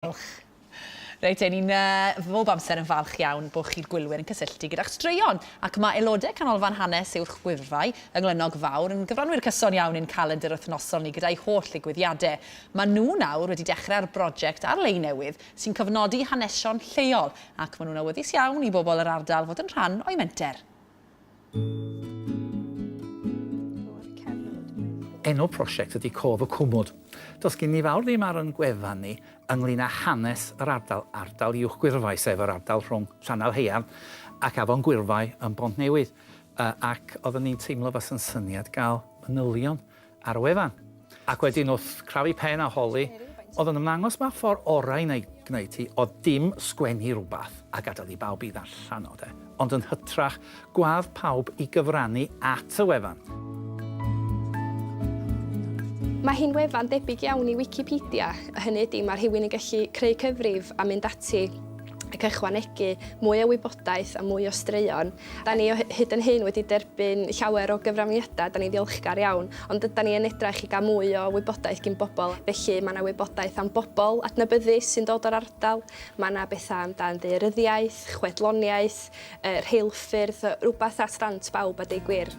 Diolch. Reit, 'yn ni'n bob amser yn falch iawn bod chi'r gwylwyr yn cysylltu gyda'ch straeon, ac mae aelodau Canolfan Hanes Uwch Wyddfai yng Nghlynnog Fawr yn gyfranwyr cyson iawn i'n calendr wythnosol ni gyda'u holl ddigwyddiadau. Maen nhw nawr wedi dechrau ar broject ar-lein newydd sy'n cofnodi hanesion lleol, ac maen nhw'n awyddus iawn i bobl yr ardal fod yn rhan o'u menter. Enw prosiect ydi Cof y Cwmwd. Does gen ni fawr ddim ar yn gwefan ni ynglyn â hanes yr ardal, ardal Uwch Gwyrfai, sef yr ardal rhwng Llanau Haearn ac Afon Gwyrfai yn Bontnewydd, ac oeddwn i'n teimlo fasa'n syniad gael manylion ar y wefan. Ac wedyn wrth crafu pen a holi, oedd o'n ymddangos mai'r ffordd orau i wneud, gwneud hi oedd dim sgwennu rhywbeth a gadael i bawb i ddarllen o, de. Ond yn hytrach, gwadd pawb i gyfrannu at y wefan. Mae hi'n wefan debyg iawn i Wicipedia, a hynny ydi mae rhywun yn gallu creu cyfrif a mynd ati ac ychwanegu mwy o wybodaeth a mwy o straeon Da ni o hyd yn hyn wedi derbyn llawer o gyfraniadau, da ni'n ddiolchgar iawn, ond ydan ni yn edrach i gael mwy o wybodaeth gin bobl, felly mae 'na wybodaeth am bobl adnabyddus sy'n dod o'r ardal, mae 'na bethau am dan ddaearyddiaeth, chwedloniaeth, yy rheilffyrdd, rwbath at ddant bawb a deu gwir.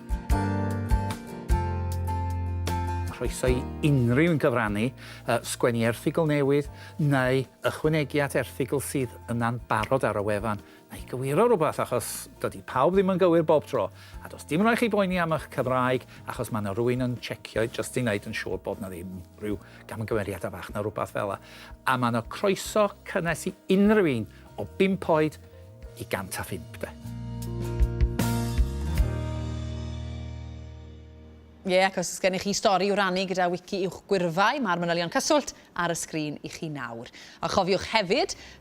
Croeso i unrhyw un gyfrannu, yy sgwennu erthygl newydd, neu ychwanegu at erthygl sydd yna'n barod ar y wefan. Nai gywiro rwbath achos dydi pawb ddim yn gywir bob tro, a does dim rai chi boeni am ych Cymraeg achos ma na rwyn yn checio jyst i neud yn siwr bod na ddim rhyw gamgymeriada fach na rwbath fela, a ma na croeso cynnes i unrhyw un o bump oed i 105 de. Ie, ac os oes gennych chi stori i'w rannu gyda Wiki Uwch Gwyrfai, mae'r manylion cyswllt ar y sgrin i chi nawr. A chofiwch hefyd,